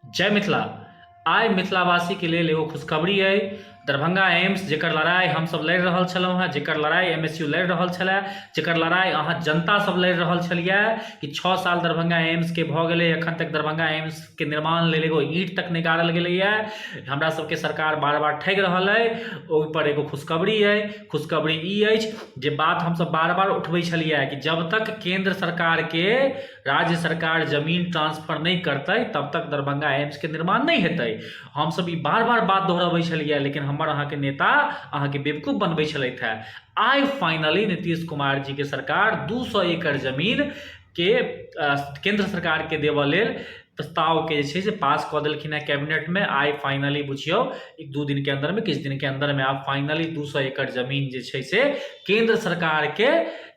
जय मिथिला आइ मिथिलावासीके लेल एगो खुशखबरी अइ दरभंगा एम्स जेकर लड़ाइ हमसभ लड़ि रहल छलहुँ हेँ जेकर लड़ाइ एम एस यू लड़ि रहल छलए जेकर लड़ाइ अहाँ जनतासभ लड़ि रहल छलियै कि छओ साल दरभंगा एम्सके भऽ गेलै एखन तक दरभंगा एम्सके निर्माण लेल एगो ईंट तक नहि गाड़ल गेलैए हमरा सभके सरकार बार बार ठगि रहल अइ ओहिपर एगो खुशखबरी अइ खुशखबरी ई अछि जे बात हमसभ बार बार उठबै छलियै कि जब तक केन्द्र सरकारके राज्य सरकार जमीन ट्रांसफर नहि करतै तब तक दरभंगा एम्सके निर्माण नहि हेतै हमसभ ई बार बार बात दोहरबै छलियै लेकिन हमर अहाँके नेता अहाँके बेवकूफ बनबै छलथि है आइ फाइनली नीतीश कुमार जी के सरकार दू सए एकड़ जमीन के केन्द्र सरकार के देबऽ लेल प्रस्तावके जे छै से पास कऽ देलखिन हेँ कैबिनेटमे आइ फाइनली बुझियौ एक दू दिनके अन्दरमे किछु दिनके अन्दरमे आब फाइनली दू सए एकड़ जमीन जे छै से केन्द्र सरकारके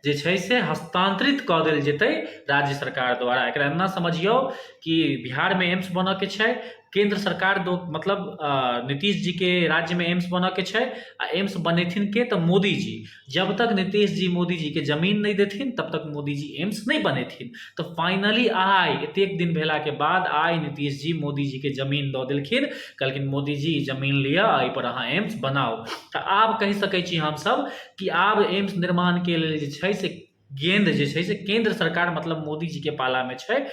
जे छै से हस्तान्तरित कऽ देल जेतै राज्य सरकार द्वारा एकरा एना समझियौ कि बिहारमे एम्स बनऽके छै केन्द्र सरकार दो मतलब नीतीश जीके राज्यमे एम्स बनऽके छै आ एम्स बनेथिन के तऽ मोदी जी जब तक नीतीश जी मोदी जी के जमीन नहीं देथिन तब तक मोदी जी एम्स नहीं बनेथिन तो फाइनली आय एतेक दिन भेला के बाद आय नीतीश जी मोदी जी के जमीन दऽ देलखिन कहलखिन मोदी जी जमीन लिअ एहिपर अहाँ एम्स बनाउ तऽ आब कहि सकैत छी हमसभ कि आब एम्स निर्माणके लेल जे छै से गेंद जे छै से केन्द्र सरकार मतलब मोदी जी के पालामे छै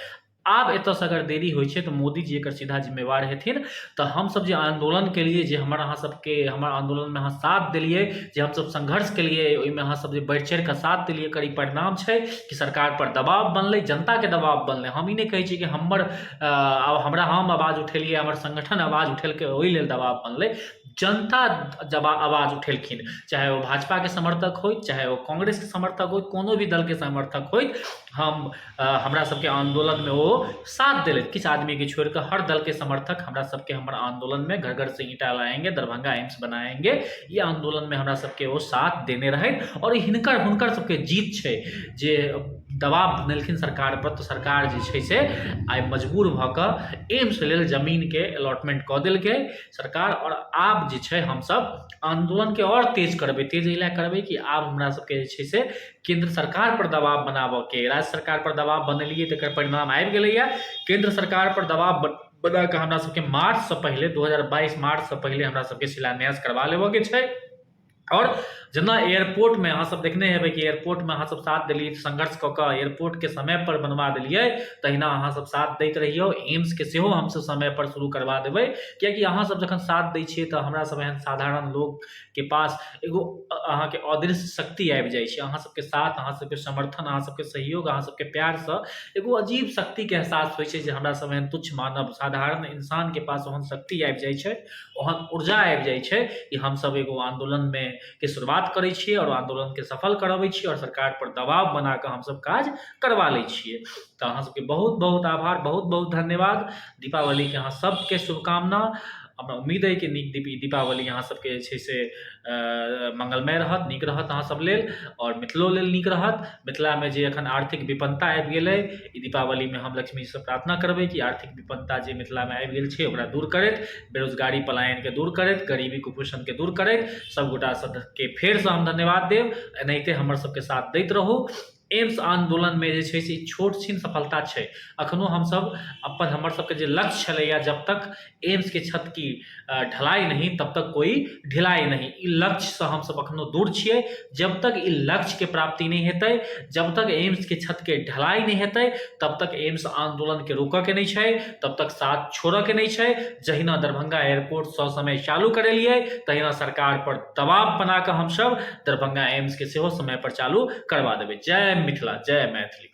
आब एतऽसँ अगर देरी होइ छै तऽ मोदीजी एकर सीधा जिम्मेवार हेथिन तऽ हमसब जे आन्दोलन केलियै जे हमर अहाँ सबके हमर आन्दोलनमे अहाँ साथ देलियै जे हमसब संघर्ष केलियै ओइमे अहाँ सब जे बढ़ि चढ़िकऽ साथ देलियै एकर ई परिणाम छै कि सरकारपर दबाव बनलै जनताके दबाव बनलै हम ई नहि कहै छी कि हमर आब हमरा हम आवाज उठेलियै हमर संगठन आवाज उठेलकै ओइ लेल दबाव बनलै जनता जबा आवाज उठेलखिन चाहे ओ भाजपाके समर्थक होथि चाहे ओ कांग्रेसके समर्थक होथि कोनो भी दलके समर्थक होथि हम हमरा सबके आन्दोलनमे ओ साथ देलथि किछु आदमीके छोड़ि कऽ हर दलके समर्थक हमरा सबके हमर आन्दोलनमे घर घर से ईंटा लाएंगे दरभङ्गा एम्स बनाएंगे ई आन्दोलनमे हमरा सबके ओ साथ देने रहथि आओर हिनकर हुनकर सबके जीत छै जे दबाब बनेलखिन सरकार पर तऽ सरकार जे छै से आइ मजबूर भऽ कऽ एम्स लेल जमीनके अलॉटमेंट कऽ देलकै सरकार आओर आब जे छै हमसब आन्दोलनके आओर तेज करबै तेज एहि लए करबै कि आब हमरा सबके जे छै से केन्द्र सरकारपर दबाव बनाबयके राज्य सरकारपर दबाव बनेलियै तकर परिणाम आबि गेलैए केन्द्र सरकारपर दबाव ब बना कऽ हमरासभके मार्चसँ पहिले दू हजार बाइस मार्चसँ पहिले हमरासभके शिलान्यास करबा लेबयके छै आओर जेना एयरपोर्टमे अहाँसभ देखने हेबै कि एयरपोर्टमे अहाँसभ साथ देलियै संघर्ष कऽ कऽ एयरपोर्टके समयपर बनबा देलियै तहिना अहाँसभ साथ दैत रहियौ एम्सके सेहो हमसभ समयपर शुरू करबा देबै किएकि अहाँसभ जखन साथ दै छियै तऽ हमरासभ एहन साधारण लोक के पास एगो अहाँके अदृश्य शक्ति आबि जाइ छै अहाँ सबके साथ अहाँ सबके समर्थन अहाँ सबके सहयोग अहाँ सबके प्यारसँ एगो अजीब शक्तिके एहसास होइ छै जे हमरा सब एहन तुच्छ मानव साधारण इंसानके पास ओहन शक्ति आबि जाइ छै ओहन ऊर्जा आबि जाइ छै कि हमसब एगो आन्दोलनमे के शुरुआत करै छियै आओर आन्दोलनके सफल करबै छियै आओर सरकारपर दबाव बनाकऽ हमसब काज करबा लै छियै तऽ अहाँ सबके बहुत बहुत आभार बहुत बहुत धन्यवाद दीपावलीके अहाँ सबके शुभकामना हमरा उम्मीद अइ कि नीक दीप ई दीपावली अहाँ सबके जे छै से मङ्गलमय रहत नीक रहत अहाँ सब लेल आओर मिथिलो लेल नीक रहत मिथिलामे जे एखन आर्थिक विपन्नता आबि गेल अइ ई दीपावलीमे हम लक्ष्मीसँ प्रार्थना करबै कि आर्थिक विपन्नता जे मिथिलामे आबि गेल छै ओकरा दूर करैत बेरोजगारी पलायनके दूर करैत गरीबी कुपोषणके दूर करैत सब गोटा सबके फेरसँ हम धन्यवाद देब एनाहिते हमर सबके साथ दैत रहू एम्स आन्दोलनमे जे छै से छोट छिन सफलता छै एखनो हमसभ अपन हमर सभके जे लक्ष्य छलैए जब तक एम्सके छत की ढलाइ नहि तब तक कोइ ढिलाइ नहि ई लक्ष्यसँ हमसभ एखनो दूर छियै जब तक ई लक्ष्यके प्राप्ति नहि हेतै जब तक एम्सके छतके ढलाइ नहि हेतै तब तक एम्स आन्दोलनके रोकयके नहि छै तब तक साथ छोड़यके नहि छै जहिना दरभंगा एयरपोर्ट ससमय चालू करेलियै तहिना सरकारपर तमाम पना के हम सब दरभंगा एम्स के सेहो समय पर चालू करबा देबै जय मिथिला जय मैथिली